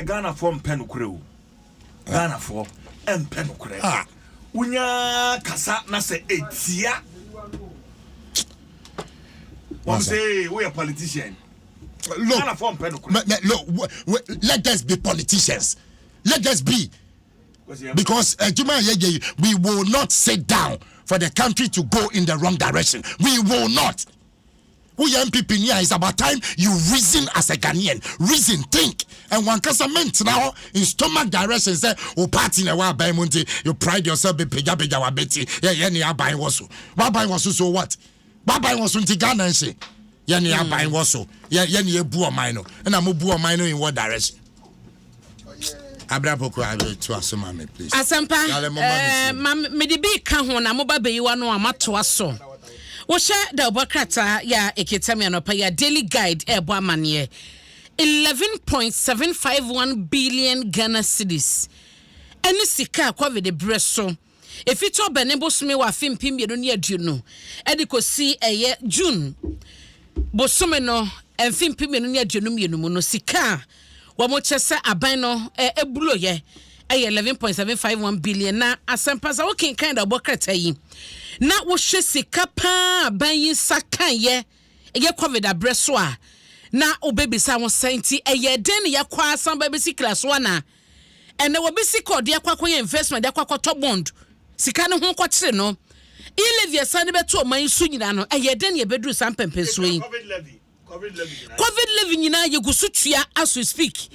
Ghanafoɔ mpɛ nokorɛ o. Ghanafoɔ mpɛ nokorɛ. Ah, wonya kasa na sɛ etia. Wɔn sɛ woyɛ politician. Look, Ghanafoɔ mpɛ nokorɛ. Look, let us be politicians. Let us be. Because uh, Juma Yeje, we will not sit down for the country to go in the wrong direction. We will not. Woyɛ NPP ni a it's about time you reason as a Ghanaian. Reason, think. And wankasa mentena hɔ in stomach direction sɛ wo party na ɛwɔ aban mu nti you pride yourself be pagya pagya wabɛti yɛ yɛ ne aban wɔ so. Waban wɔ so so what? Waban wɔ so nti Ghana nhye. Yɛ ne aban wɔ so. Yɛ yɛ ne ebu ɔman no. Ɛna mo bu ɔman no in what direction? abira poko abira to aso ma me please. asempa ɛɛ ma me de bi ka ho na mo ba bɛyi wa no a ma to aso wohyɛ da ɔbɔ krataa yɛ a ekita mi anɔpa yɛ daily guide ɛɛbɔ amaneɛ eleven point seven five one billion ghana cedis ɛne sika a covid brɛ so. Efi Tɔbɛne bosome wɔ afe mpem mmienu ne aduonu de kɔsi ɛyɛ June bosome no mfe mpem mmienu ne aduonu mmienu mu no, sika a wɔkyɛ sɛ aban no eburoyɛ ɛyɛ eleven point seven five one billion. Na asɛmpa sɛ wokenkan da ɔbɔ krataa yi na wohwɛ sika paa aban yi nsa kaeɛ ɛyɛ covid abrɛ so a na wobɛbisa ho sɛ nti ɛyɛ den ne yɛkɔ asan bɛbɛsi kira so anaa? Ɛnɛ obi sika ɔde akɔ akɔyɛ investment de akɔ akɔtɔ bond sika no ho kɔkyere no e levy ɛsan de bɛto ɔman yi so nyinaa no ɛyɛ dɛn na yɛbɛduru saa mpɛmpɛnsoɔ yi covid levy nyinaa yɛgu so tua as we speak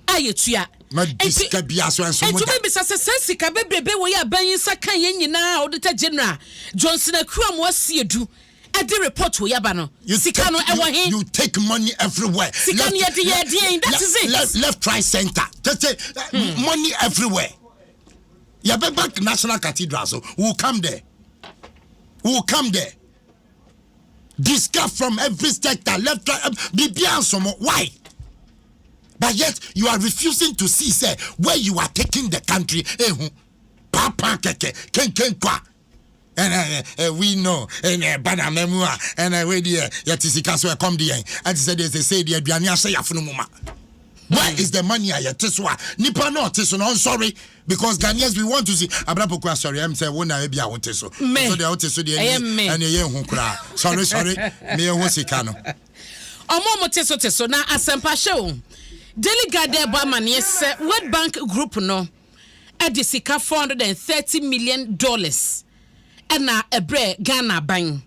a yɛtua ɛtumi bisa sɛ saa sika bebrebe wɔ yɛ aban yi nsa ka yɛn nyinaa auditor general Johnson Akuamoah Siedu ɛde report wei aba no sika no ɛwɔ he you take money everywhere sika no yɛde yɛ ɛdeɛn that is it left, left right center tete hmm. money everywhere yɛbɛba national cathedral so we will come there we will come there discuss from every sector left right um, biribiara nsomo why but yet you are refusing to see say where you are taking the country ehu eh, papa keke kenkenkwa. Kwa. ɛna eh, eh, eh, we know ɛna eh, ɛba nana mu a ɛna eh, wei deɛ yɛte sika so ɛkɔm deɛ ɛte sɛ deɛ sɛsei deɛ aduane ahyɛ yɛafono mu ma where hmm. is the money a yɛte so a nipa na ɔte so na ɔnsɔre because ghanaians we want to see abrapoko asɔre ɛm sɛ wo na ebi a wote so so deɛ wote so deɛ ɛne ɛyɛ nhu koraa sɔre sɔre ne ɛho sika no ɔmo ɔmo te so te so na asɛmpa hyɛ o daily guide ɛbɔ amaneɛ sɛ world bank group no de sika four hundred and thirty million dollars na ɛbrɛɛ Ghana aban.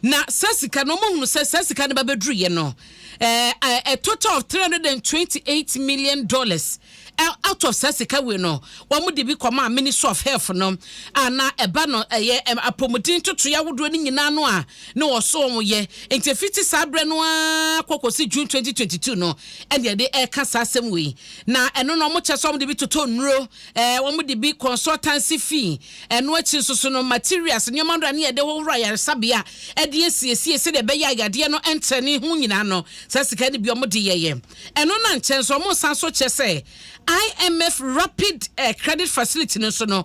Na saa sika no, wɔhunu sɛ saa sika no ba bɛduruiɛ no, a total of three hundred and twenty eight million dollars out of saa sika wei no, wɔn de bi kɔmaa Ministry of Health no, a na ɛba no ɛyɛ apɔmuden ntotoeɛ ahodoɔ no nyinaa no a na wɔso wɔn yɛ. Nti fiti saa berɛ no ara kɔ kɔsi June twenty twenty two no, ɛna yɛde ɛka saa asɛm wei. Na ɛno no wɔn kyɛ sɛ wɔn de bi totɔ nnuro, ɛɛ wɔn de bi consultancy fee, ɛno akyi nso so no materials, nneɛma no a ne yɛde hohoro ayaresabea ɛde asiesie sɛdeɛ ɛbɛyɛ a yadeɛ no ɛntrɛ ne ho nyinaa no saa sika no bi wɔn de yɛyɛ. Ɛno no ankyɛ nso wɔn san so kyɛ sɛ IMF rapid ɛɛ credit facility no nso no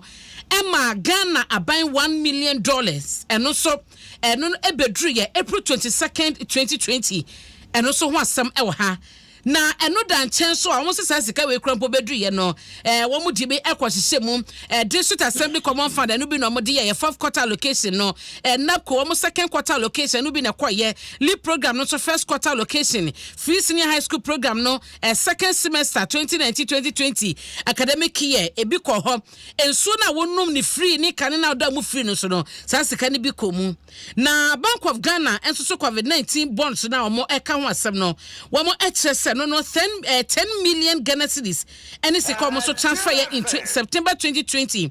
ɛma Ghana aban one million dollars, ɛno nso ɛno no ɛbɛduru yɛ April twenty second twenty twenty, ɛno nso ho asɛm ɛwɔ ha. Na ɛno da nkyɛn nso a wɔn nso saa sika wei kura mpo bɛduiɛ no, eh, wɔn de bi kɔ hyehyɛ mu. Eh, District Assembly Common Fund, ɛno bi na wɔn de yɛ yɛ fourth quarter allocation no. Eh, NABCO, wɔn second quarter allocation, ɛno bi na ɛkɔ yɛ. LEAP program no nso first quarter allocation. Free Senior High School program no, eh, second semester 2019-2020 academic year, ebi kɔ hɔ. Nsuo no a wɔnom ne free ne kane no a ɔda mu free no nso no, saa sika no bi kɔ mu. Na Bank of Ghana nso so Covid nineteen bonds no a wɔka ho asɛm no, wɔkyerɛ sɛ no no ten eh, ten million Ghana cedis ɛne sika wɔn nso transfer yɛ in September twenty twenty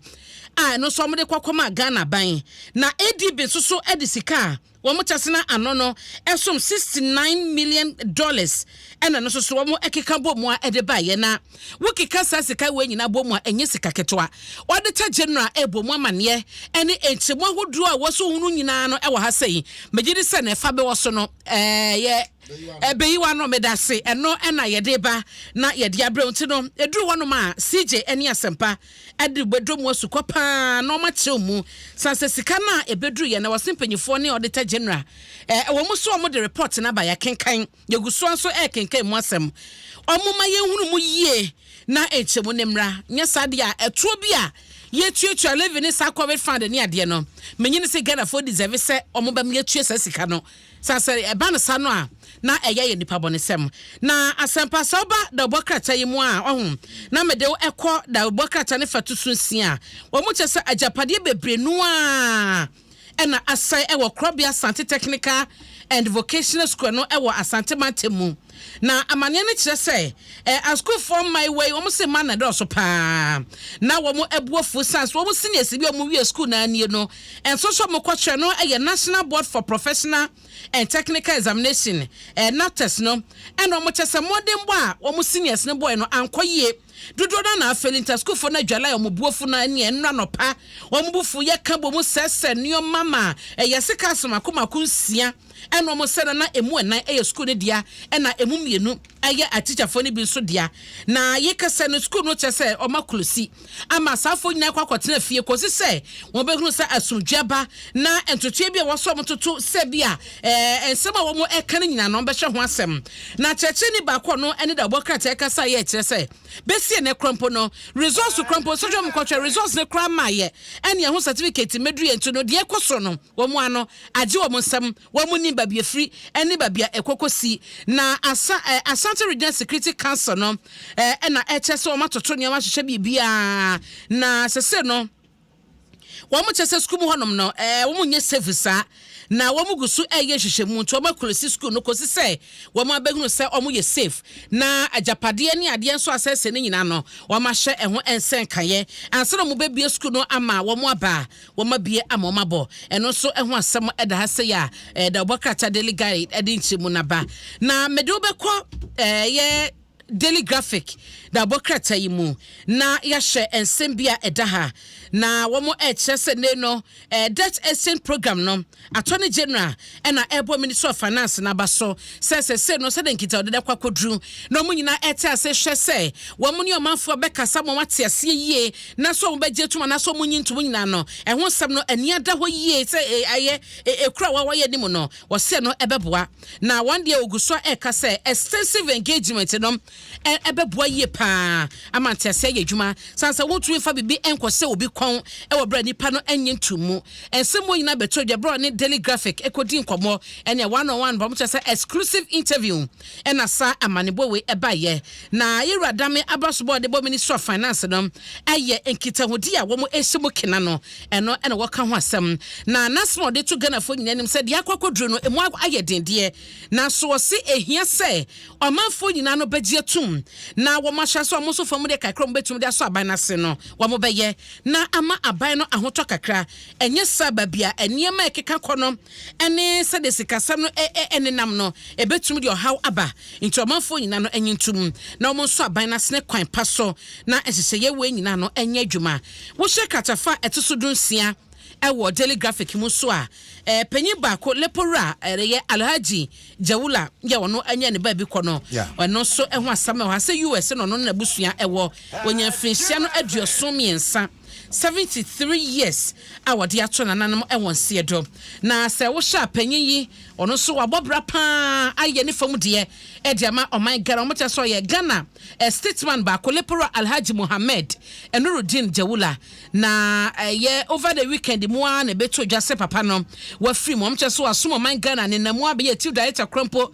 a ɛno nso wɔde kɔkɔm a Ghana ban na ADB nso so de sika a wɔn tasena ano no ɛsom sixty nine million dollars ɛna no nso so wɔn ɛkeka bɔ mu a ɛde baayɛ na Wokeka saa sika wei nyinaa bɔ mu a, ɛnyɛ sika ketewa. Auditor General rebɔ mu amanneɛ ne nkyeremu ahodoɔ a ɛwɔ so ho no nyinaa no wɔ ha sɛi. Megye di sɛ na ɛfa bɛwɔ so no, ɛyɛ ɛbɛyi wano. Meda ase. Ɛno na yɛde ba na yɛde abrɛ nti no, ɛduru hɔnom a, CJ ne Asɛmpa de bɛdɔ mu asu kɔ paa na wɔn akyerɛw mu. San sɛ sika no a ɛbɛduru yɛ na ɛwɔ se mpanyifoɔ ne Auditor General ɛwɔ mu so wɔn de report no aba yɛakenkan. Yɛgu so ara nso rekenkan mu asɛm. Momma yɛnhunu mu yie na nkyɛmu no mmra, nyɛ saa deɛ a ɛtoɔ bi a yɛtuatua levy ne saa covid fund ne adeɛ no, mennye ne sɛ Ghanafoɔ deserve sɛ wɔbɛma yɛatua saa sika no. Saa sɛ ɛba no saa no a, na ɛyɛ yɛ nnipa bɔnesɛm. Na asɛmpa sɛ woba dawubɔ krataa yi mu a, ɔho, na mede wo ɛkɔ dawubɔ krataa no fatu so nsia a wɔkyɛ sɛ agyapadeɛ bebree no ara. na asan wɔ Korɔbea Asante Technical and Vocational School no wɔ Asante Mantam mu. Na amaneɛ no kyerɛ sɛ asukuufoɔ mmaayewa yi wɔn se mma na dɔɔso paa na wɔn abu afuo san so wɔn seniors bi a wɔn wie sukuu na nie no nso so wɔn kɔkyerɛ no yɛ National Board for Professional and Technical Examination, NABTEX, no ɛna wɔn kyɛ sɛ mmɔdenbɔ a wɔn seniors no bɔe no ankɔ yie. Dodoɔ no ara na Afelinta sukuufoɔ no adwale ayɛ wɔn bo afu na ɛnneɛ nnora anɔpa wɔn bo fu yɛ ka bom sɛsɛ nneɛma ma ɛyɛ sekaase mako mako nsia ɛna wɔn sɛ no na ɛmu ɛnan ɛyɛ sukuu no dea ɛna ɛmu mmienu ɛyɛ atikyafoɔ no bi nso dea na yɛkɛsɛ no sukuu no kyɛ sɛ wɔn akolosi ama asaafoɔ nyinaa kɔ akɔtena fie kɔsi sɛ wɔn bɛhunu sɛ asomdwe aba na ntotoeɛ bi a wɔsɔ wɔn toto sɛ bi a ɛɛ nsɛm a wɔn ɛka no nyinaa no wɔn bɛhyɛ ho asɛm Na kyerɛkyerɛni baako a ɔno ne dawubɔ krataa kasa yɛ kyerɛ sɛ, Besi ɛnnɛ koraa mpo no, results koraa mpo, sohwɛ wɔn kɔhwɛ results no koraa ma yɛ ɛne ɛho certificate mmeduru yɛn nti no, deɛ ɛkɔ so no, wɔn ano agye wɔn nsam, wɔn nnim baabi efiri ɛne baabi a ɛkɔ kɔ si. Na Asa eh, Asante Regional Security Council no eh, ɛna ɛkyɛ sɛ wɔn atoto nneɛma ahyehyɛ biribiara, na sese no, wɔn kyɛ sɛ sukuu mu hɔnom no ɛɛ wɔn nyɛ safe saa na wɔn gu so ɛyɛ nhyehyɛmu nti wɔn akulisi sukuu no kɔsi sɛ wɔn abɛhunu sɛ wɔn yɛ safe na agyapadeɛ ne adeɛ nso asɛsɛ ne nyinaa no wɔn ahyɛ ɛho nsɛnkaeɛ ansa na wɔn bɛbie sukuu no ama wɔn aba a wɔn abie ama wɔn abɔ ɛno nso ɛho asɛm ɛda ha sɛ yɛ a ɛda ɔbɔ krataa daily guide ɛde nkyerɛmu naba na mede wobɛkɔ ɛyɛ Daily Graphic na wɔbɔ krataa yi mu na yɛahyɛ nsɛm bi a ɛda ha na wɔrekyerɛ sɛ nnɛ no eh, debt exchange program no attorney general na ɛrebɔ ministry of finance no aba so sɛ sɛsɛ no sɛdeɛ nkitahodi no akɔ akɔduru na wɔn nyinaa ɛte ase hwɛ sɛ wɔn ne ɔmanfoɔ bɛkasa ma wɔate aseɛ yie na sɛ wɔn bɛgye tom anaasɛ wɔn nyi ntom nyinaa no ɛho nsɛm no ani ada hɔ yie sɛ ɛyɛ ekura wa wɔyɛ anim no wɔsɛ no ɛbɛboa Na wɔn deɛ wɔgu so reka sɛ extensive engagement no bɛboa yie pa ara ama nteaseɛ ayɛ adwuma sane sɛ wontumi mfa biribi nkɔhyɛ obi kɔn wɔ berɛ a nnipa no nnye ntom mu. Nsɛm wɔ nyinaa bɛtoo dwa berɛ a ɔne Daily Graphic kɔdii nkɔmmɔ, ɛnneɛ one on one, wɔkyerɛ sɛ exclusive interview, na saa amanebɔ wei baeɛ. Na Yɛwura Dame Abrasobɔ a ɔde bɔ Ministry of Finance no yɛ nkitahodi a wɔhyɛ mu kena no Ɛno na wɔka ho asɛm. Na n'asɛm a ɔde to Ghanafoɔ nyinaa anim sɛ deɛ akɔ akɔduru no, ɛmu ayɛ den deɛ. Nanso ɔse ɛhia sɛ ɔmanfoɔ nyinaa no bɛgye atum na wɔahyɛ aseɛ a wɔn nso fam deɛ kakra a wɔbɛtumi de asɔ aban no ase no wɔbɛyɛ na ama aban no ahotɔ kakra. Ɛnyɛ saa baabi a nneɛma a ɛkeka kɔ no ne sɛdeɛ sikasɛm no nenam no, ɛbɛtumi de ɔhaw aba. Nti ɔmanfoɔ nyinaa no nnye ntom na wɔnsɔ aban no asene kwan pa so na nhyehyɛeɛ wei nyinaa no nyɛ adwuma. Wohyɛ kratafa a ɛto so dunsia wɔ Daily Graphic mu nso a, panyin baako, Lepowura, ɛyɛ Alhaji Jawula yɛ ɔno ne ne baabi kɔ no, ɛno nso ho asɛm wɔ ha sɛ US na ɔno ne n'abusua wɔ. Wɔanya mfirinhyia no aduɔson mmiɛnsa, 73 years, a wɔde ato nananom wɔn nseɛ do. Na sɛ wohyɛ a panyin yi, ɔno nso wabɔ bra pa ara, ayɛ ne fam deɛ de ama ɔman Ghana. Wɔkyerɛ sɛ ɔyɛ Ghana Statesman baako, Leporaa Alhaji Mohammed Nuruddin Jawula, na ɛyɛ over the weekend mu ara na ɛbɛtoo dwa sɛ papa no wafiri mu. Wɔkyerɛ so asom ɔman Ghana ne nna mu abɛyɛ Chief Director korɔ mpo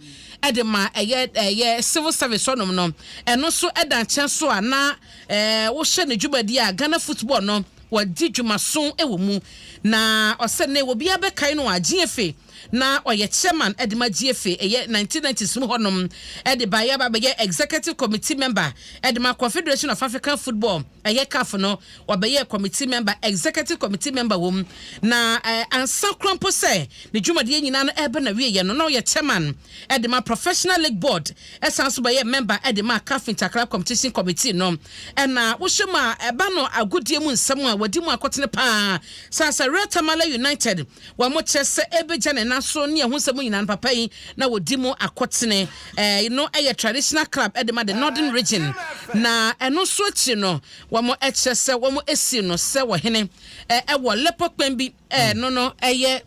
de ma ɛyɛ ɛyɛ Civil Service hɔnom no. Ɛno nso da nkyɛn so a, na wohyɛ ne dwumadie a, Ghana football no, wadi dwumaso wɔ mu. Na ɔsɛ nnɛ obiara bɛkae no a, Gyeefe Na ɔyɛ chairman de ma Gyiefe, ɛyɛ nineteen ninety s mu hɔnom de baeɛ aba abɛyɛ executive committee member de ma Confederation of African Football, ɛyɛ CAF no, ɔbɛyɛɛ committee member, executive committee member wɔ mu. Na ansa koraa mpo sɛ ne dwumadie nyinaa no reba n'awieɛ no, na ɔyɛ chairman de ma Professional League Board, ɛsan nso bɛyɛɛ member de ma CAF Interclub Competition Committee no. Ɛna wohwɛ mu a, ɛba no agodie mu nsɛm a wɔdi mu akotene pa ara, Sir Sir Ray Tamale United, wɔkyerɛ sɛ ɛbɛgya ne nan so ne ɛho nsɛm nyinaa no, papa yi na ɔdi mu akotene. Ɛɛ no yɛ traditional club de ma the Northern Region, na ɛno nso akyiri no, wɔkyerɛ sɛ wɔasi no sɛ ɔhene ɛwɔ Lepo Kpɛn bi ɛɛ no no ɛyɛ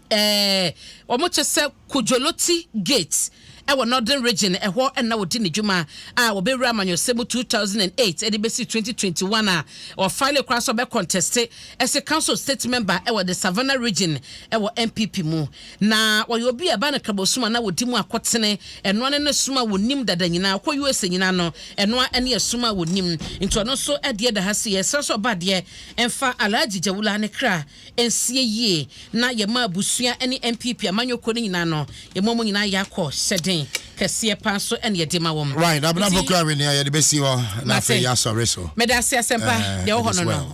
ɛɛ wɔkyerɛ sɛ. Kujoloti Gate wɔ Northern Region, ɛhɔ na ɔdi ne dwuma a ɔbɛwura amanyɔsɛm mu two thousand and eight de bɛsi twenty twenty one a ɔfilee koraa sɛ ɔbɛkɔntɛste ɛse Council of State Member wɔ the Savannah Region wɔ NPP mu. Na ɔyɛ obi a ɛbaa no Krabosom a na ɔdi mu akotene, ɛno ara ne som a wɔnim dada nyinaa, ɔkɔ USA nyinaa no, ɛno ara ne ɛsom a wɔnim. Nti ɔno nso adeɛ da ha sei, ɛsrɛ sɛ ɔba adeɛ mfa Alhaji Jawula ne kra. nsie yie na yɛma abusua ne NPP amanyɔkuo no nyinaa no, yɛma wɔn nyinaa yɛ akɔ hyɛden kɛseɛ paa nso na yɛde ma wɔn. Right, Abena Pokuawe deɛ yɛde bɛsi hɔ na afei yɛasɔre so. Medase Asɛmpa deɛ ɛwɔ hɔ no no.